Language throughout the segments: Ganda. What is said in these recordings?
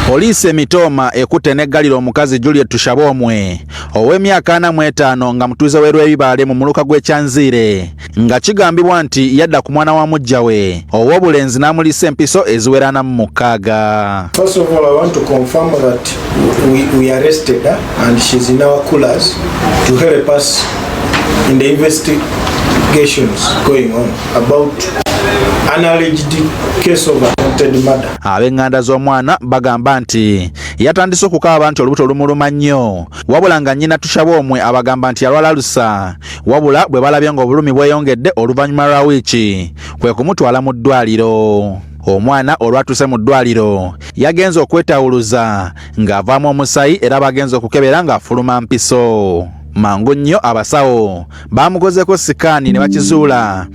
Poliisi emitooma ekutte n'eggalira omukazi Juliet Tushaboomwe ow'emyaka ana mu etaano nga mutuuze w'e Lwebibaale mu muluka gw'e Kyanziire nga kigambibwa nti yadda ku mwana wa muggya we ow'obulenzi n'amuliisa empiso eziwera ana mu mukaaga. First of all, I want to confirm that we, we arrested her and she's in our coolers to help us in the investigations going on about an alleged case of attempted murder. Ab'eŋŋanda z'omwana bagamba nti yatandise okukaaba nti olubuto lumuluma nnyo wabula nga nnyina Tushabomwe abagamba nti yalwala alusa wabula bwe balabye ng'obulumi bweyongedde oluvannyuma lwa wiiki kwe kumutwala mu ddwaaliro. Omwana olwatuuse mu ddwaaliro yagenze okwetawuluza ng'avaamu omusaayi era bagenze okukebera ng'afuluma mpiso. Mangu nnyo abasawo baamukozeeko sikaani ne bakizuula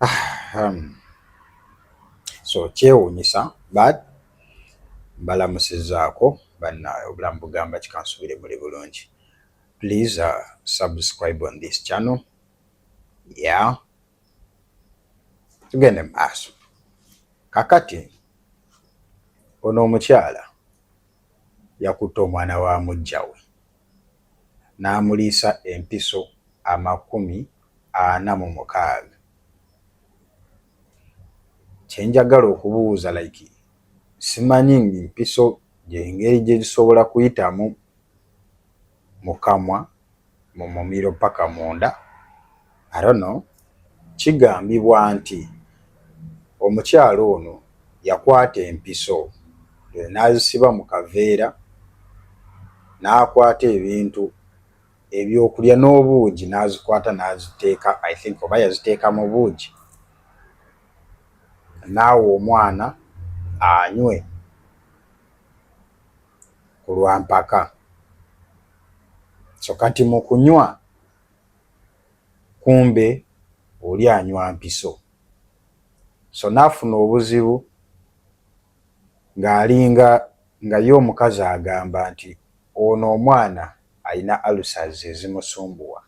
Ahem. So kyewuunyisa but mbalamusizaako bannaawe obulamu bugamba kikansubire muli bulungi please uh, subscribe on this channel yeah tugende mu maaso kakati ono omukyala yakutte omwana wa mujjawe n'amuliisa empiso amakumi ana mu mukaaga. Kye njagala okubuuza like simanyi ng'mpiso gy'engeri gye zisobola kuyitamu mu kamwa mu mumiro paka munda? Arono kigambibwa nti omukyala ono yakwata empiso n'azisiba mu kaveera n'akwata ebintu ebyokulya n'obuugi n'azikwata n'aziteeka I think oba yaziteeka mu buugi n'awa omwana anywe ku lwa mpaka so kati mu kunywa kumbe oli anywa mpiso so nafuna obuzibu nga alinga nga ye omukazi agamba nti ono omwana alina ulcers ezimusumbuwa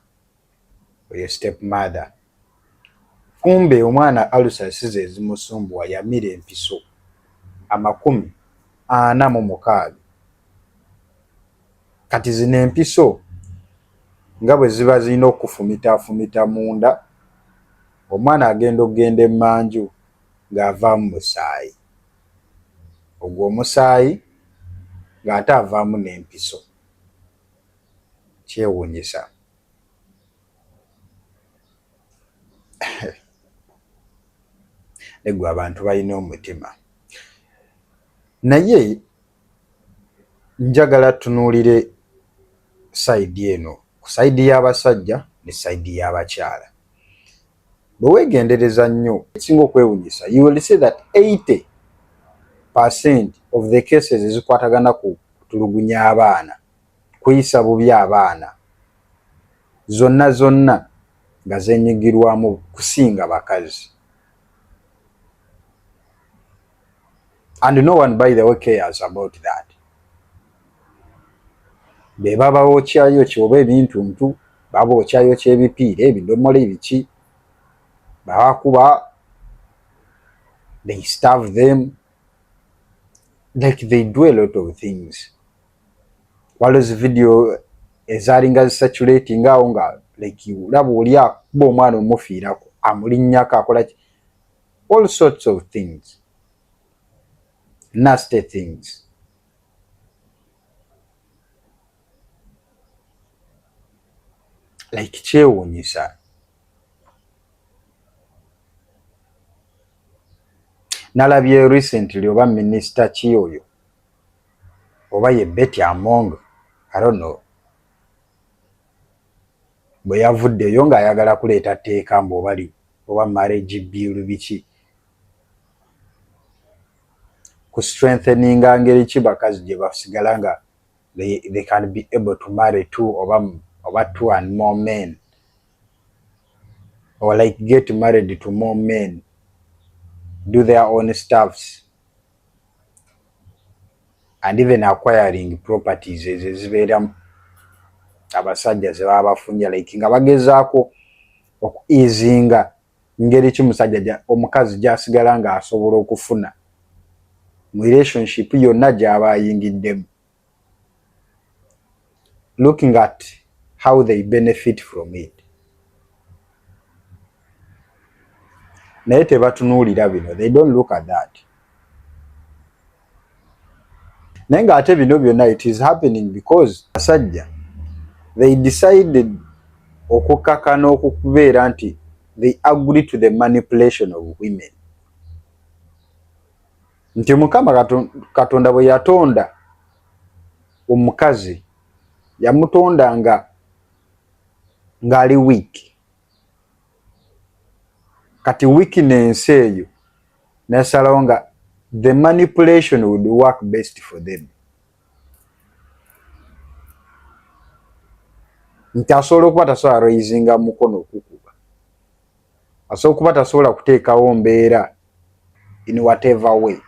oyo step mother kumbe omwana ulcers sizezimusumbuwa yamira empiso amakumi ana mumukaaga. Kati zino empiso nga bwe ziba zirina okufumitafumita munda, omwana agenda okugenda emmanju ng'avaamu musaayi. Ogwo omusaayi ng'ate avaamu n'empiso. Kyewuunyisa. Naye ggwe abantu balina omutima. Naye. Njagala tunuulire sayidi eno ku sayidi y'abasajja ne sayidi y'abakyala. Bwe weegendereza nnyo ekisinga okwewunyisa you will see that 80 percent of the cases ezikwatagana ku kutulugunya abaana, kuyisa bubi abaana, zonna zonna nga zenyigirwamu kusinga bakazi. and no one by the way cares about that be babawookyayo kyoba ebintuntu babookyayo kyebipiira ebidomola ebiki babakuba they starve them like they do a lot of things waliwo zi video ezalinga zisatulating awo nga like olaba oli akuba omwana omufiirako amulinnyako akolaki all sorts of things nasty things like kyewuunyisa nalabye recently oba minisita ki oyo oba ye Betty Among I don't know bwe yavuddeyo ng'ayagala kuleeta tteeka mbu oba li oba marriage bill biki ku strengtheninga ngeri ki bakazi gye basigala nga they, they can be able to marry two oba oba two and more men or like get married to more men do their own staffs and even acquiring properties ezo ezibeeramu abasajja zebaba bafunja like nga bagezaako oku easinga ngeri ki musajja omukazi gyasigala nga asobola okufuna mu relationship yonna gyaba ayingiddemu looking at how they benefit from it naye tebatunuulira bino they don't look at that naye nga ate bino byonna it is happening because asajja they decided okukaka n'okubeera nti they agree to the manipulation of women nti mukama katonda bwe yatonda omukazi yamutonda nga ng'ali wiiki kati wiiki n'ensi eyo nasalawo nga the manipulation would work best for them nti asobola okuba tasobola raisinga mukono okukuba asobola okuba tasobola kuteekawo mbeera in whatever way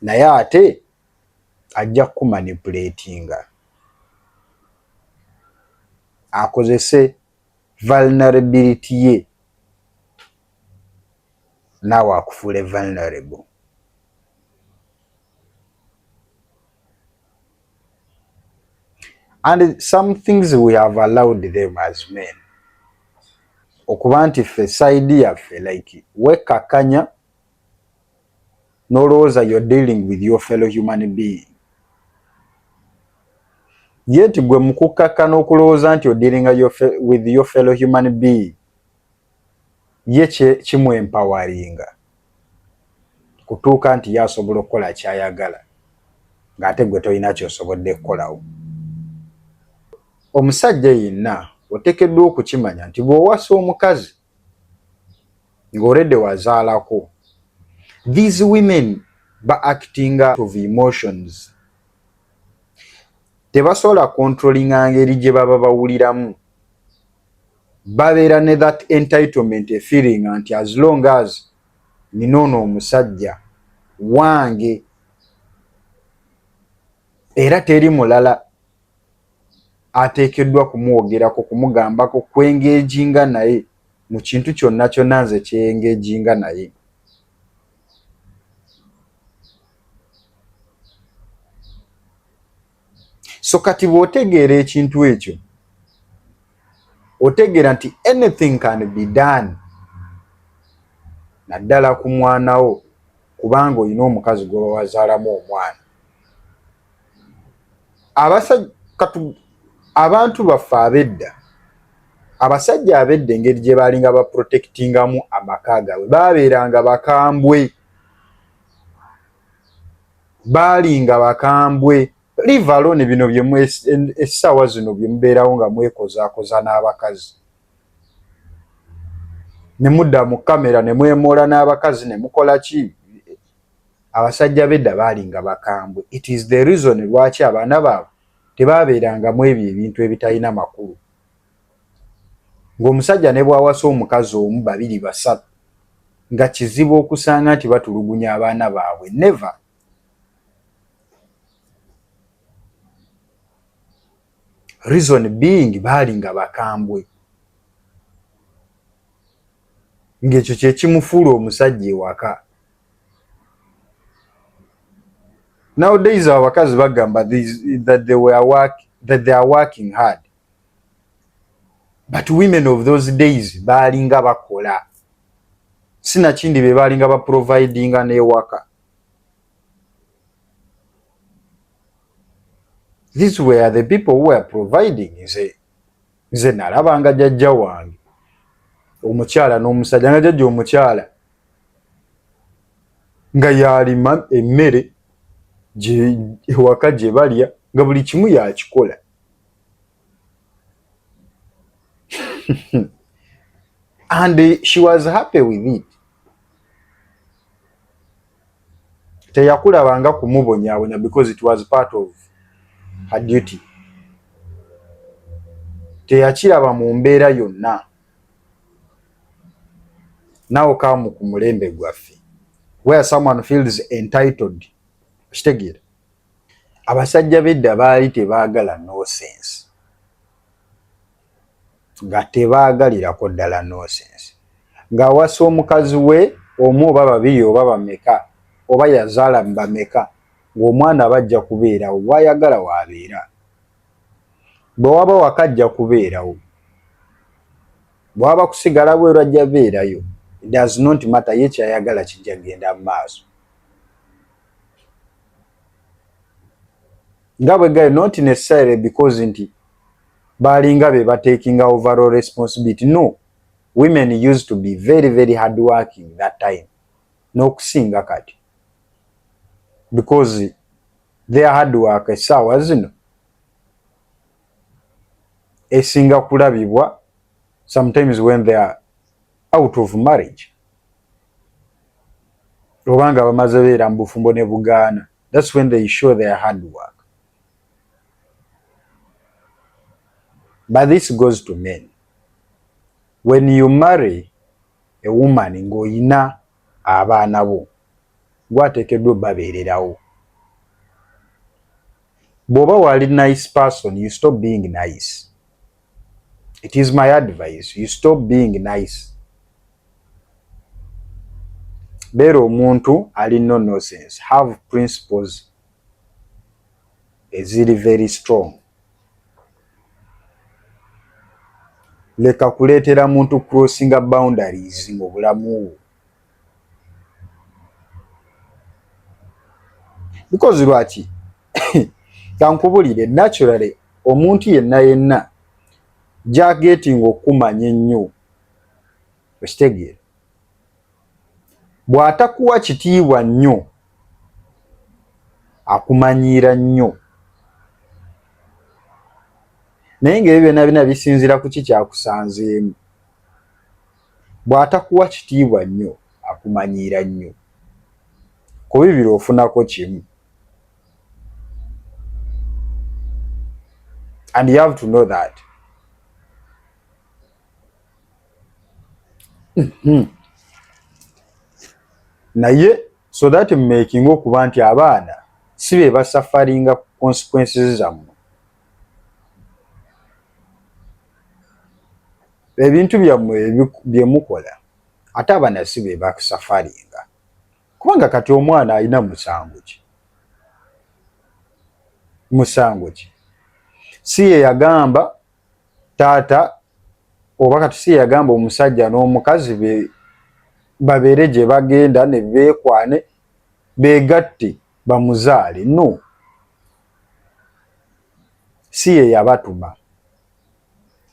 naye ate ajja kumanipulatinga akozese vulnerability ye naawe akufuule vulnerable and some things we have allowed them as men okuba nti ffe saidi yaffe like wekakanya nolowooza you're dealing with your fellow human being yet gwe mukukkakka n'okulowooza nti odiringa with your fellow human being ye kimwempawaringa kutuuka nti ye asobola okukola ky'ayagala ng'ate gwe tolina ky'osobodde kukolawo. Omusajja yenna oteekeddwa okukimanya nti bw'owasa omukazi ng'olredde wazaalako, these women ba acting out of emotions, tebasobola controllinga ngeri gye baba bawuliramu babeera ne that entitlement a feeling nti as long as nina ono omusajja wange era teri mulala ateekeddwa kumwogerako kumugambako kwengejinga naye mu kintu kyonna kyonna nze kyengejinga naye so kati bwotegeera ekintu ekyo otegeera nti anything can be done naddala ku mwana wo kubanga olina omukazi gwoba wazaalamu omwana abasajja katu abantu baffe abedda abasajja abedda engeri gye baalinga baprotectingamu amaka gaabwe baabeeranga bakambwe baalinga bakambwe live alone bino byesaawa zino byemubeerawo nga mwekozaakoza n'abakazi ne mudda mu kamera ne mwemoola n'abakazi ne mukola ki abasajja bedda baalinga bakambwe it is the reason lwaki abaana baabwe tebaabeerangamu ebyo ebintu ebitalina makulu Ng'omusajja ne bw'awasa omukazi omu, babiri, basatu, nga kizibu okusanga nti batulugunya abaana baabwe. Never. Reason being baali nga bakambwe. Ng'ekyo kye kimufuula omusajja ewaka. Nowadays abakazi bagamba that they were work, that they are working hard. but women of those days baalinga bakola sinakindi be baalinga baprovidinga n'ewaka this were the people who were providing nze nze nalabanga jajja wange omukyala n'omusajja nga jajja omukyala nga yalima emmere ewaka gye balya nga buli kimu yakikola and she was happy with it teyakulabanga kumubonyabonya because it was part of her duty teyakiraba mu mbeera yonna nawe kamu ku mulembe gwaffe where someone feels entitled kitegeera abasajja bedda baali tebaagala nosense nga tebaagalirako ddala nosense ng'awasa omukazi we omu oba babiri oba bameka oba yazaala mu bameka ng'omwana aba ajja kubeerawo bwayagala waabeera bwe waba waka ajja kubeerawo bwaba kusigala bweru ajja beerayo does not matter ye kyayagala kijja kugenda mu maaso nga bwe gali not necessarily because nti balinga be batakinga overall responsibility no women used to be very very hard working that time n'okusinga kati because their hard work essaawa zino esinga kulabibwa sometimes when they are out of marriage obanga bamaze beera mu bufumbo ne bugaana that's when they show their hard work but this goes to men when you marry a woman ng'oyina abaana bo gwateekeddwa obabeererawo bw'oba wali nice person you stop being nice It is my advice you stop being nice beera omuntu ali no nonsense have principles eziri very strong leka kuleetera muntu crossinga boundaries mu bulamu because lwaki kankubulire naturally omuntu yenna yenna gyagetinga okumanya ennyo okitegeera bw'atakuwa kitiibwa nnyo akumanyiira nnyo naye ngaebyo byona byona bisinziira kuki kyakusanzeemu Bw'atakuwa kitiibwa nnyo akumanyiira nnyo. Ku bibiri ofunako kimu. And you have to know that. Hmm. Naye so that making okuba nti abaana si be basafaringa consequences zammwe ebintu byammwe bye mukola ate abana si be basafaringa kubanga kati omwana alina musango ki musango ki si ye yagamba taata oba kati si ye yagamba omusajja n'omukazi be babeere gye bagenda ne beekwane beegatte bamuzaale no si ye yabatuma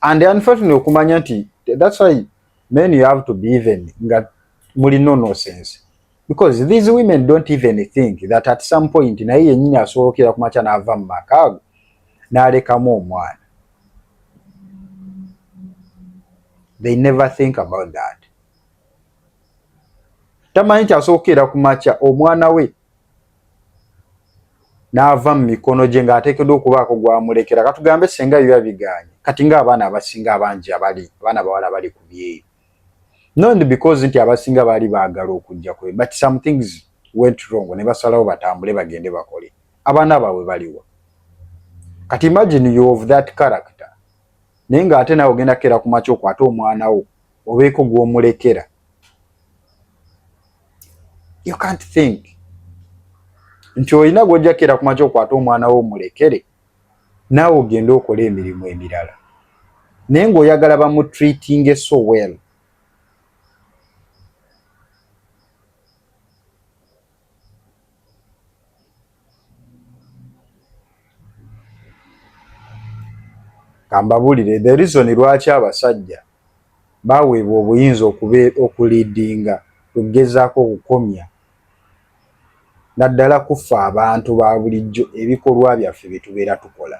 and unfortunately okumanya nti that's why men you have to be even nga muli no no sense because these women don't even think that at some point naye yenyini asobokera kumakya nava mumaka ago nalekamu omwana they never think about that tamanyi nti asobokera kumakya omwana we n'ava mu mikono gye ng'ateekeddwa okubaako gw'amulekera katugambe senga yo yabiganye kati ng'abaana abasinga abangi abali abaana bawala bali ku byeyo not because nti abasinga baali baagala okujja kwe but some things went wrong ne basalawo batambule bagende bakole abaana baabwe baliwa kati imagine you of that character naye ng'ate naawe ogenda kukeera ku makya okwate omwana wo obeeko gw'omulekera you can't think nti olina gwojja keera ku makya okwata omwana wo omulekere naawe ogende okole emirimu emirala naye ng'oyagala bamutreatinge so well kambabuulire the reason lwaki abasajja baweebwa obuyinza okuliidinga okugezaako okukomya naddala kuffa abantu ba bulijjo ebikolwa byaffe bye tubeera tukola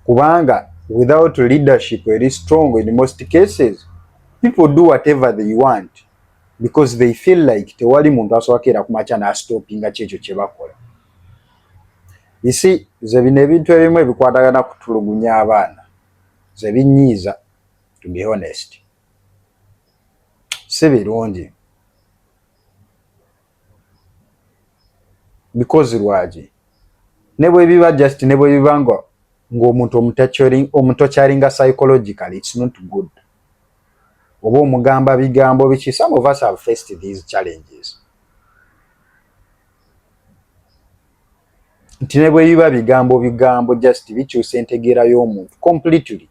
kubanga without leadership eri strong in most cases people do whatever they want because they feel like tewali muntu asobakera kumakya nastopinga kyekyo kyebakola isi ze bino ebintu ebimu ebikwatagana kutulugunya abaana ze binyiiza to be honest si birungi because lwaki ne bwe biba just ne bwe biba nga ng'omuntu omutokyaringa psychologically it's not good oba omugamba bigambo biki some of us have faced these challenges nti ne bwe biba bigambo bigambo just bikyusa entegeera y'omuntu completely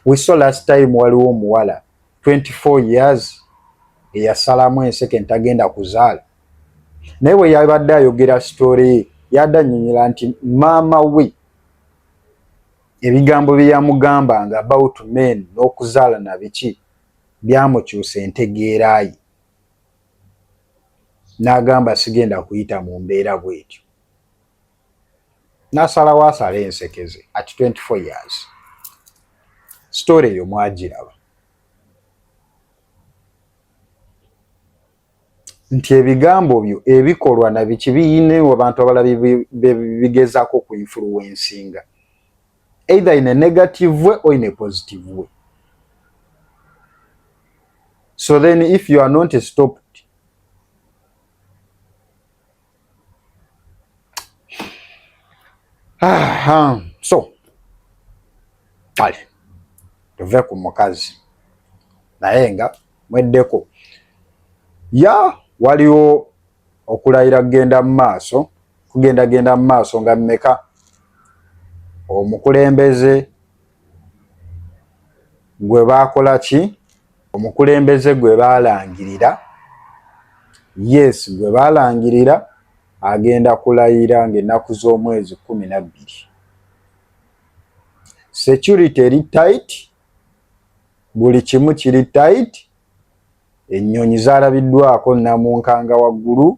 we saw last time waliwo omuwala 24 years eyasalamu enseke ntagenda kuzaala naye bwe yabadde ayogera sitoole ye yadde anyonyola nti maama we ebigambo bye yamugambanga about men n'okuzaala na biki byamukyusa entegeera ye n'agamba sigenda kuyita mu mbeera bwetyo nasalawo asale ensekeze at 24 years story eyo mwagiraba nti ebigambo byo ebikolwa nabiki biyina abantu abala bigezako ku influencinga either in a negative way or in a positive way so then if you are not stopped Aha. So kale tuve ku mukazi naye nga mweddeko ya waliwo okulayira kugenda mu maaso kugendagenda mu maaso nga mmeka omukulembeze gwe baakola ki? Omukulembeze gwe baalangirira, yes, gwe baalangirira agenda kulayira ng'ennaku z'omwezi kkumi na bbiri. Security eri tight, buli kimu kiri tight, ennyonyi zaalabiddwako nnamunkanga waggulu,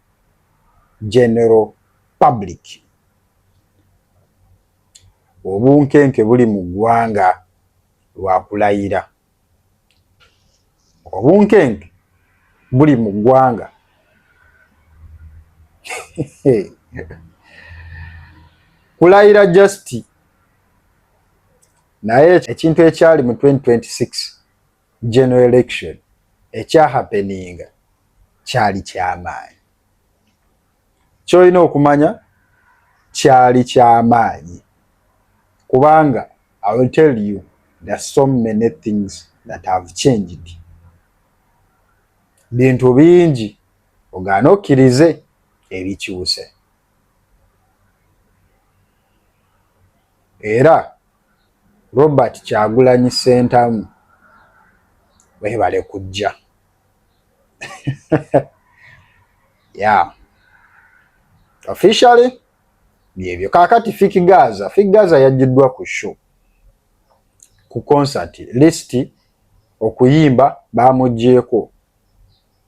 general public obunkenke buli mu ggwanga lwa kulayira obunkenke buli mu ggwanga kulayira just naye ekintu ekyali mu 2026 general election ekyahapeninga kyali kyamaanyi. Kyolina okumanya kyali kyamaanyi kubanga I will tell you there are so many things that have changed. Bintu bingi ogaana okkirize ebikyuse era Robert Kyagulanyi Ssentamu webale kujja yeah. officially byebyo kakati fik gaza fik gaza yajjiddwa ku show ku concert list okuyimba bamugyeko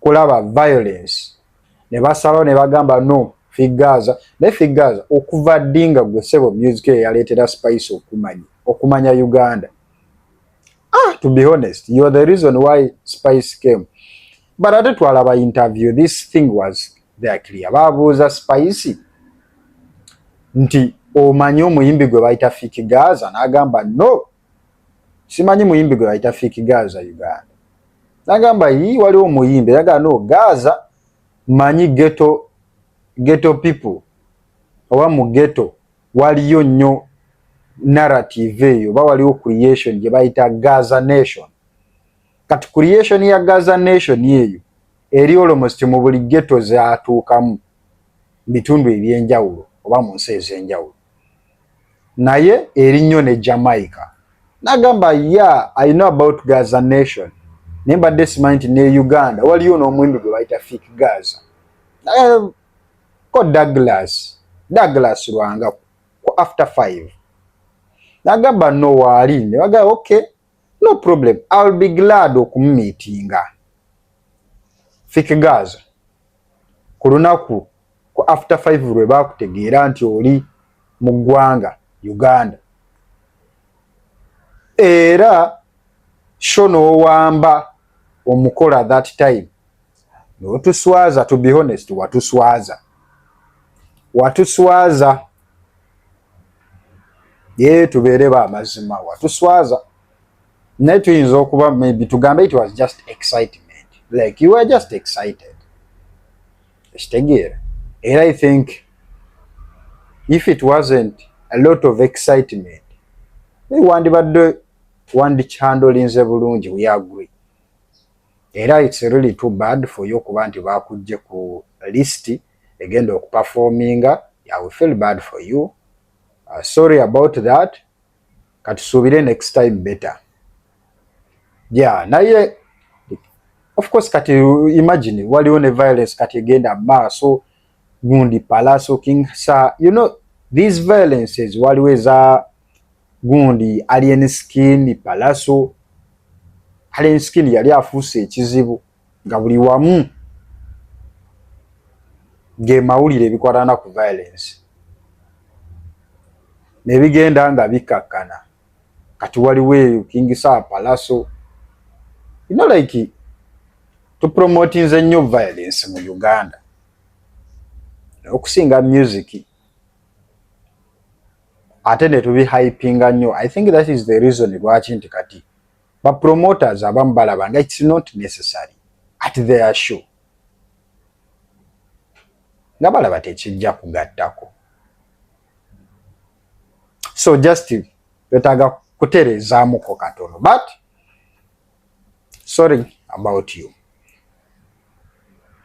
kulaba violence ne basalawo ne bagamba no figaza ne figaza okuva ddi nga gwe sebo music eyo yaleetera spice okumanya okumanya uganda ah, to be honest you are the reason why spice came but ate twalaba interview this thing was there clear babuuza spice nti omanyi omuyimbi gwe bayita fikigaza n'agamba no simanyi muyimbi gwe bayita fiki gaza uganda nagamba yi waliwo omuyimbi yagala no gaza manyi geto geto people oba mu geto waliyo nnyo narrative eyo oba waliwo creation gye bayita gaza nation kati creation ya gaza nation eyo eri olomosti mu buli geto zatuukamu bitundu ebyenjawulo oba mu nsi ezenjawulo naye eri nnyo ne Jamaica. Nagamba ya I know about Gaza nation naye mbadde simanyi nti ne Uganda waliyo n'omuyimbi gwe bayita Fik Gaza. Nagamba ko Douglas, Douglas Lwanga ku after five. Nagamba no waali ne bagamba okay no problem I'll be glad okumumitinga fik gaza ku lunaku ku after five lwe bakutegeera nti oli mu ggwanga uganda era sho n'owamba omukola that time notuswaza to be honest watuswaza watuswaza ye tubeere ba mazima watuswaza naye tuyinza okuba maybe tugambe it was just excitement like you were just excited ekitegeera era i think if it wasn't a lot of excitement wandibadde wandikyandolinze bulungi we agree era it's really too bad for you okuba nti bakujje ku list egenda okupafominga yeah, we feel bad for you uh, sorry about that katusuubire next time better yeah naye of course kati imagine waliwo ne violence kati egenda maaso gundi palaso king sa you know these violences waliwo eza gundi alien skin palaso alien skin yali afuuse ekizibu nga buli wamu ng'emawulire ebikwatana ku violence nebigenda nga bikkakkana kati waliwo eyo kingisa palaso you know like tupromotinze nnyo violence mu uganda okusinga music ate netubihypinga nnyo i think that is the reason lwaki nti kati ba promoters abamu balaba nga it's not necessary at their show nga balaba tekijja kugattako so just betaaga kutereezaamuko katono but sorry about you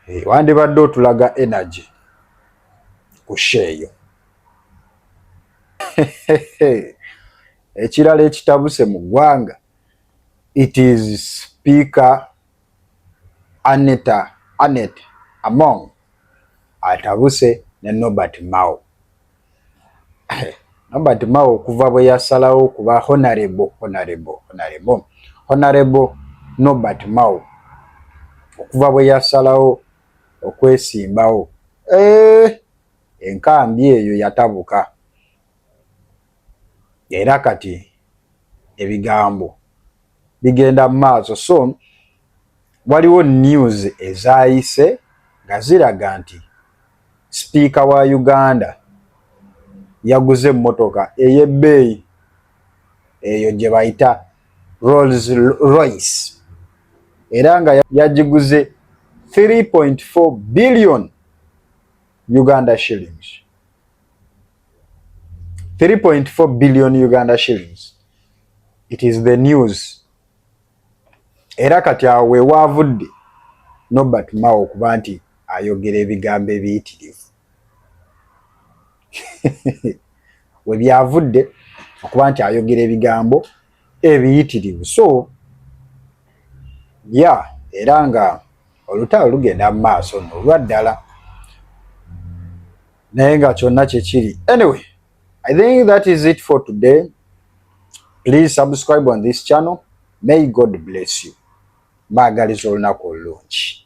hey, eh, wandibadde otulaga energy ku sheeyo Ekirala ekitabuse mu ggwanga it is speaker Aneta Anet Among atabuse ne Nobert Mao. Nobert Mao okuva bwe yasalawo okuba honorable honorable honorable honorable Nobert Mao okuva bwe yasalawo okwesimbawo eh, enkambi eyo yatabuka. era kati ebigambo bigenda mu maaso so waliwo news ezaayise nga ziraga nti sipiika wa uganda yaguze emmotoka ey'ebbeeyi eyo gye bayita rolls royce era nga yagiguze 3.4 billion uganda shillings 3.4 billion Uganda shillings it is the news era kati awo wewaavudde Nobert Mao okuba nti ayogera ebigambo ebiyitirivu we byavudde okuba nti ayogera ebigambo ebiyitirivu so ya era nga olutalo lugenda mu maaso nolwa ddala naye nga kyonna kyekiri anyway i think that is it for today please subscribe on this channel may god bless you mbaagaliza olunaku olulungi